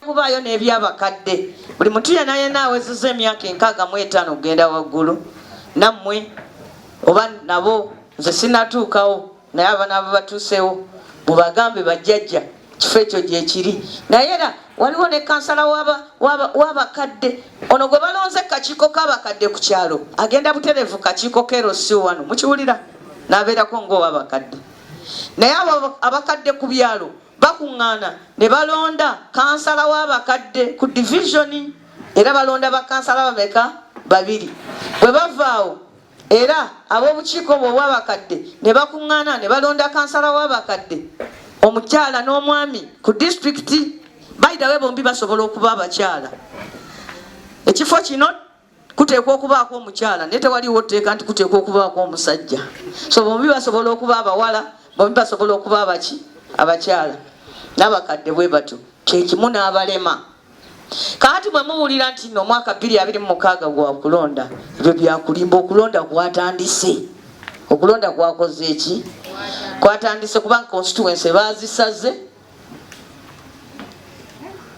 kubaayo n'ebyabakadde buli muntu yena yena awezeza emyaka enkaaga mu etaano okugenda waggulu nammwe oba nabo nze sinatuukawo naye abana abo batuusewo mubagambe bajjajja kifo ekyo gyekiri naye era waliwo ne kansala wabakadde ono gwe balonze kakiiko kabakadde ku kyalo agenda buterevu kakiiko kerosi wano mukiwulira nabeerako ngaowabakadde naye abo abakadde ku byalo bakuŋŋaana ne balonda kansala w'abakadde ku divisioni era balonda bakansala bameka babiri bwe bavaawo era ab'obukiiko obwo obw'abakadde ne bakuŋŋaana ne balonda kansala w'abakadde omukyala n'omwami ku disitulikiti bayidawe bombi basobola okuba abakyala ekifo kino kuteekwa okubaako omukyala naye tewaliwo tteeka nti kuteekwa okubaako omusajja so bombi basobola okuba abawala bombi basobola okuba abaki abakyala n'abakadde bwe batyo kyekimu n'abalema kaati bwe muwulira nti no omwaka bbiri abiri mu mukaaga gwa kulonda ebyo byakulimba okulonda kwatandise okulonda kwakoze eki kwatandise kubanga constituency baazisaze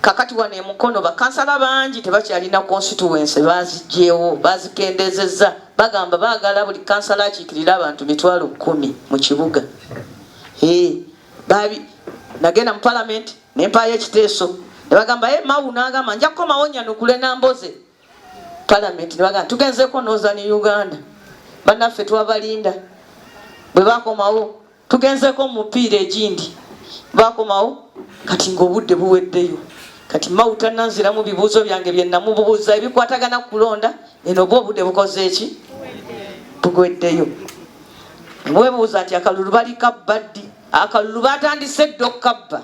kakati wano emukono bakansala bangi tebakyalina constituency bazigyewo bazikendezeza bagamba bagala buli kansala akikirire abantu mitwalo kumi mu kibuga babi nagenda mu palamenti nempayo ekiteeso nebagamba e mawu nagamba nja kukomawo nyanukule namboze palamenti nebagamba tugenzeko noza ne uganda banaffe twabalinda bwebakomawo tugenzeko mu mupiira egindi bakomawo kati ng'obudde buweddeyo kati mawu tananziramu bibuuzo byange bye namubuuza ebikwatagana ku kulonda eno oba obudde bukoze eki bugweddeyo webuuza nti akalulu bali kabba ddi akalulu batandise dda okukabba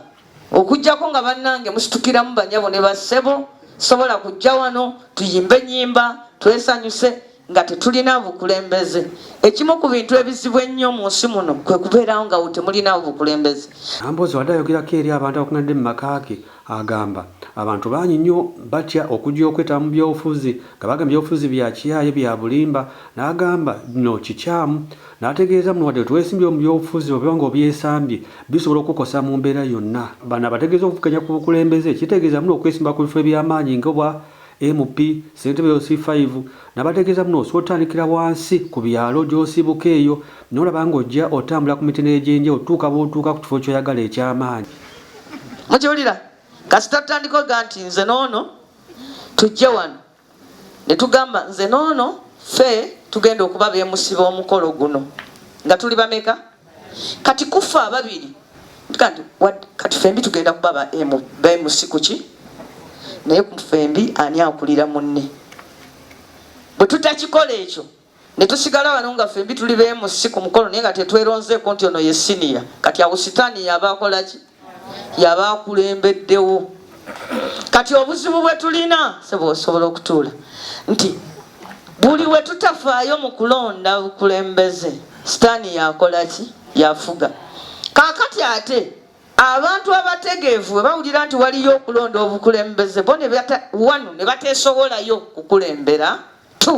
okujjako nga bannange musitukiramu banyabo ne bassebo sobola kujja wano tuyimbe ennyimba twesanyuse nga tetulina bukulembeze ekimu ku bintu ebizibu ennyo mu nsi muno kwe kubeerawo nga temulinawo bukulembeze ambozi wadde ayogerako eri abantu abakunadde mu maka ge agamba abantu bangi nnyo batya okujja okwetaba mu byobufuzi nga baga byobufuzi bya kiyaaye bya bulimba n'agamba no kikyamu n'ategeeza muno wadde twesimbye mu byobufuzi oba nga obyesambye bisobola okukosa mu mbeera yonna bano abategeeza okuvuganya ku bukulembeze kitegeeza muno okwesimba ku bifo eby'amaanyi nga obwa MP ssentebe yo C5 nabategeeza muno osobola otandikira wansi ku byalo gy'osibuka eyo n'olaba ng'ojja otambula ku mitendera egy'enjawulo tutuuka bw'otuuka ku kifo ky'oyagala eky'amaanyi. Mukiwulira kasita tutandika oga nti nze n'ono tujje wano ne tugamba nze n'ono ffe tugenda okuba beemusiba omukolo guno nga tuli bameka? kati kuffe ababiri kati kati fembi tugenda kuba ba emu ba emu sikuki naye ku fembi ani akulira munne bwe tutakikola ekyo ne tusigala wano nga fembi tuli ba emu si ku mukolo naye nga tetweronzeeko nti ono ye siniya kati awo sitaani yaba akola ki yaba akulembeddewo kati obuzibu bwe tulina sebe osobola okutuula nti buli we tutafaayo mu kulonda bukulembeze sitaani yakola ki yafuga kaakati ate abantu abategeevu bwe bawulira nti waliyo okulonda obukulembeze bo wanu ne bateesowolayo kukulembera t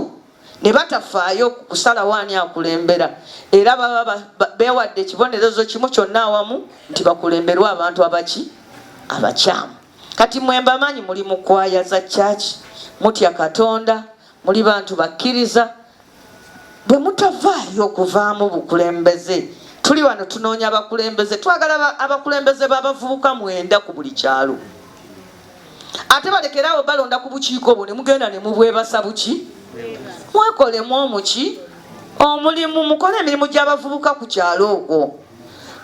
ne batafaayo ku kusalawo ani akulembera era baba beewadde ekibonerezo kimu kyonna awamu nti bakulemberwa abantu abaki abakyamu kati mwe mbamanyi muli mu kwaya za kyaki mutya katonda muli bantu bakkiriza bwe mutavaayo okuvaamu bukulembeze tuli wano tunoonya abakulembeze twagala abakulembeze b'abavubuka mwenda ku buli kyalo ate balekeraawo balonda ku bukiiko obwo ne mugenda ne mubwebasa buki mwekolemu omuki omulimu mukole emirimu gy'abavubuka ku kyalo okwo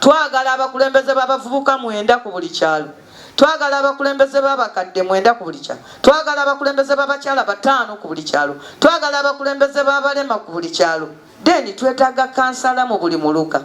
twagala abakulembeze b'abavubuka mwenda ku buli kyalo twagala abakulembeze b'abakadde mwenda ku buli kyalo twagala abakulembeze b'abakyala bataano ku buli kyalo twagala abakulembeze b'abalema ku buli kyalo deni twetaaga kansala mu buli muluka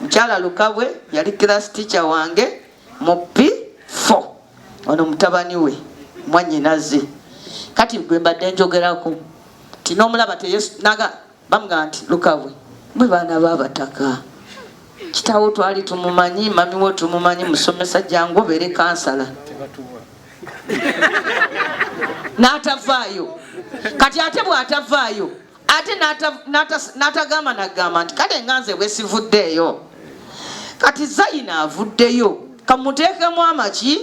Mukyala Lukabwe yali class teacher wange mu P4. Ono mutabani we mwanyinaze. Kati gwe mbadde njogerako nti n'omulaba teyenaga bamugamba nti Lukabwe mwe baana b'abataka kitaawo twali tumumanyi mami wo tumumanyi musomesa jangu obeere kansala n'atavaayo kati ate bw'atavaayo ate n'atagamba nagamba nti kale nga nze bwesivuddeeyo kati zayina avuddeyo kamuteekemu amaki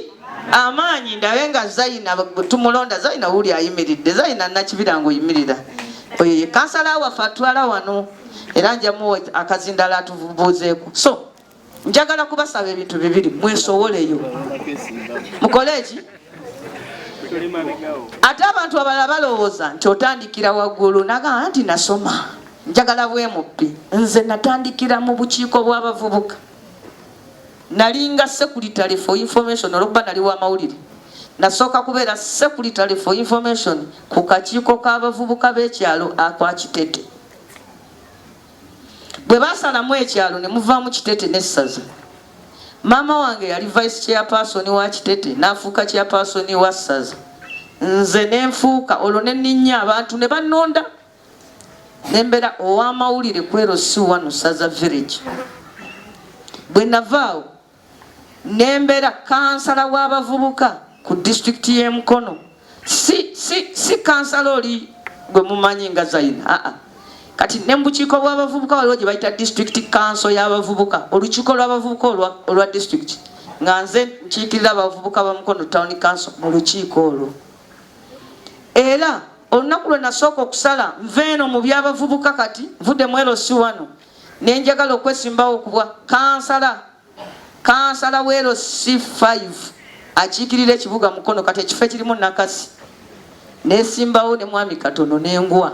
amaanyi ndabe nga zayina tumulonda zayina wuli ayimiridde zayina nakibira nga oyimirira oyo ye kansala waffe atwala wano era njamu akazindala atubuuzeeko so njagala kubasaba ebintu bibiri mwesowoleyo mukole eki ate abantu abalala balowooza nti otandikira waggulu nagamba nti nasoma njagala bwemubbi nze natandikira mu bukiiko bw'abavubuka nalinga secretary for information olwokuba nali wa mawulire nasooka kubeera secretary for information ku kakiiko k'abavubuka b'ekyalo akwa kitete bwe baasalamu ekyalo ne muvaamu kitete n'essaza maama wange yali vice chairperson wa kitete n'afuuka chairperson wa ssaza nze ne nfuuka olwo ne nninnya abantu ne bannonda ne mbeera ow'amawulire kwero si wano ssaza village bwe navaawo nembera kansala w'abavubuka ku disitulikiti y'e Mukono si, si, si kansala oli gwe mumanyi nga Zaina aa ah, ah. kati ne mu bukiiko bw'abavubuka waliwo gye bayita disitulikiti kanso y'abavubuka olukiiko lw'abavubuka olwa disitulikiti nga nze nkiikirira abavubuka ba Mukono tawuni kanso mu lukiiko olwo era olunaku lwe nasooka okusala nva eno mu by'abavubuka kati nvudde mu erosi wano nenjagala okwesimbawo kubwa kansala kansala wero c5 akiikirira ekibuga mukono kati ekifo ekirimu nakasi nesimbawo ne mwami katono nengwa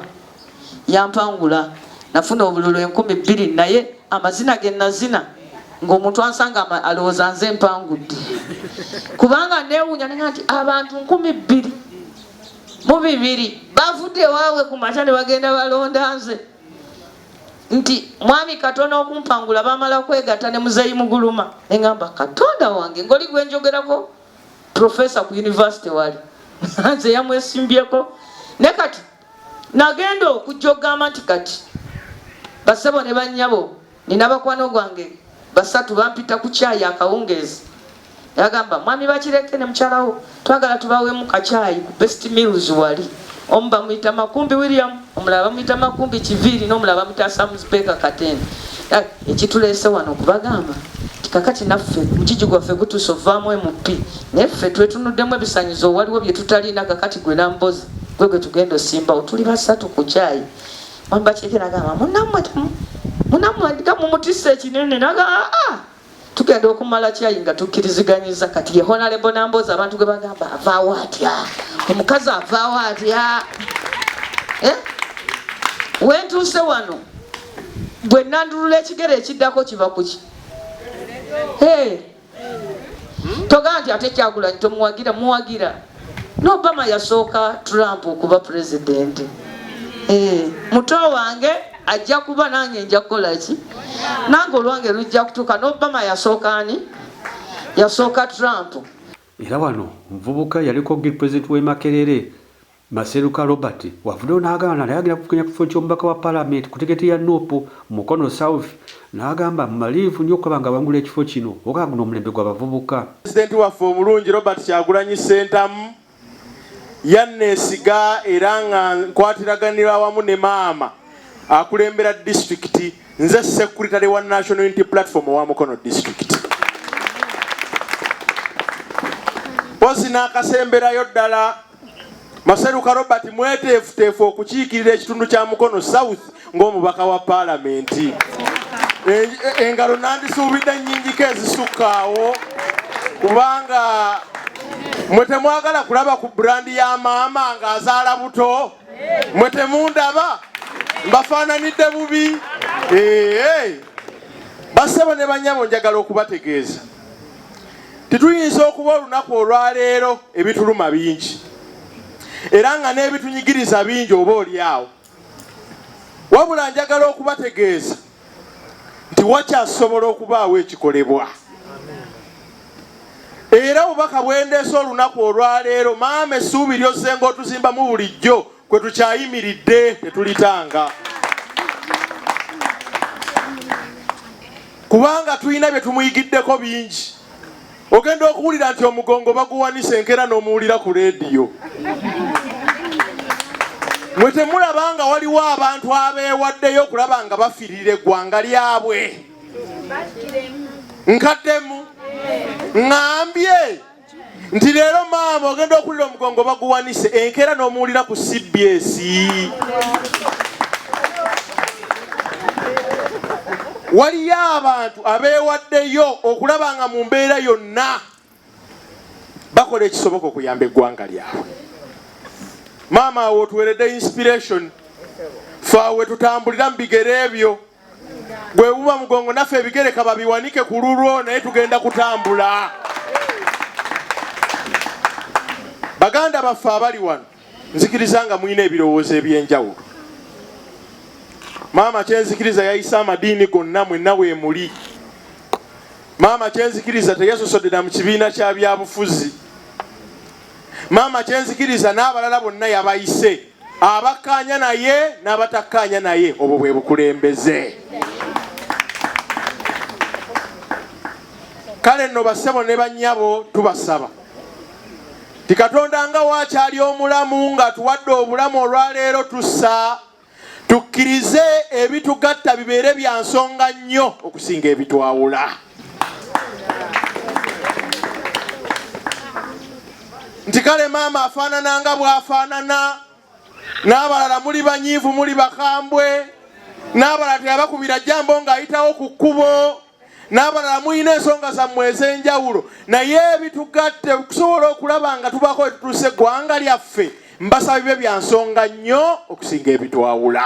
yampangula nafuna obululu enkumi bbiri naye amazina ge nazina ng'omuntu ansanga alowooza nze mpangudde kubanga newunya nega nti abantu nkumi bbiri mu bibiri bavudde waabwe ku makya ne bagenda balonda nze nti mwami katona okumpangula bamala kwegata ne muzeyi muguluma engamba katonda wange ngoli gwenjogerako profesa ku univesity wali nze yamwesimbyeko ne kati nagenda okujja okugamba nti kati basebo ne banyabo nina bakwano gwange basatu bampita ku kyayi akawungeezi yagamba mwami bakireke ne mukyalawo twagala tubawemu kacaayi ku best mills wali omu bamuyita makumbi william omulala bamuyita makumbi kiviiri n'omulala bamuyita samuspeeka katende ekituleese wano okubagamba kakati naffe mukiji gwaffe gutuuse ovaamu mp naye ffe twetunuddemu ebisanyizo waliwo bye tutalina kakati gwe nambozi gwe gwe tugenda osimbawo tuli basatu ku kyayi mwamba kyekera gamba munammwe munammwe ndiga mumutisa ekinene naga aa ah, ah. tugenda okumala kyayi nga tukkiriziganyiza kati ye honalebo namboozi abantu gwe bagamba avaawo atya omukazi avaawo atya eh? wentuuse wano bwe nandulula ekigere ekiddako kiva kuki togamba nti ate kyagulanyi tomuwagira muwagira nobama yasooka trump okuba pulezidenti eh, muto wange ajja kuba nange nja kukolaki nange olwange lujja kutuuka nobama yasooka ani yasooka trump era wano omuvubuka yaliko gil president w'e makerere maseruka robert wavuddeyo n'agaana naye agenda kukenya kifo ky'omubaka wa palamenti ku tiketi ya nup mukono south N'agamba, Mmalirivu nnyo okulaba ng'abangula ekifo kino, okulaba nga guno omulembe gwa bavubuka. Pulezidenti waffe omulungi Robert Kyagulanyi Ssentamu yanneesiga era nga nkwatiraganira awamu ne maama akulembera disitulikiti, nze Ssekulitale wa National Unity Platform owa Mukono Disitulikiti. Mpozzi n'akasemberayo ddala. Maseruka Robert mweteefuteefu okukiikirira ekitundu kya Mukono South ng'omubaka wa Palamenti. Engalo nandisuubidde nnyingiko ezisukka awo kubanga mwe temwagala kulaba ku burandi ya maama ng'azaala buto mwe temundaba mbafaananidde bubi. Bassebo ne bannyabo njagala okubategeeza Tituyinza okuba olunaku olwaleero ebituluma bingi era nga n'ebitunyigiriza bingi oba olyawo. Wabula njagala okubategeeza nti wakyasobola okubaawo ekikolebwa. Era obubaka bwendeese olunaku olwaleero maama essuubi lyozzenga otuzimbamu bulijjo. kwe tukyayimiridde tetulitanga kubanga tulina bye tumuyigiddeko bingi ogenda okuwulira nti omugongo baguwanisa enkera n'omuwulira ku leediyo mwe temulaba nga waliwo abantu abeewaddeyo okulaba nga bafirira eggwanga lyabwe nkaddemu ŋambye nti leero maama ogenda okulira omugongo baguwanise enkeera n'omuwulira ku cbs waliyo abantu abeewaddeyo okulaba nga mu mbeera yonna bakola ekisoboka okuyamba eggwanga lyabwe maama awo otuweredde inspiration fe awe tutambulira mu bigere ebyo bwebuba mugongo naffe ebigereka babiwanike ku lulwo naye tugenda kutambula baganda baffe abali wano nzikiriza nga mulina ebirowoozo ebyenjawulo maama kyenzikiriza yayise amadiini gonna mwenna wemuli maama kyenzikiriza teyasosodera mu kibiina kya byabufuzi maama kyenzikiriza n'abalala bonna yabayise abakkaanya naye n'abatakkaanya naye obwo bwe bukulembeze kale nno bassebo ne bannyabo tubasaba ti katonda nga waakyali omulamu ng'atuwadde obulamu olwaleero tussa tukkirize ebitugatta bibeere bya nsonga nnyo okusinga ebitwawula nti kale maama afaanana nga bw'afaanana n'abalala muli banyiivu muli bakambwe n'abalala teyabakubira jambo ng'ayitawo ku kkubo n'abalala mulina ensonga zammwe ez'enjawulo naye bitugatte okusobola okulaba nga tubaako wetutuusa eggwanga lyaffe mbasaba bibyo bya nsonga nnyo okusinga ebitwawula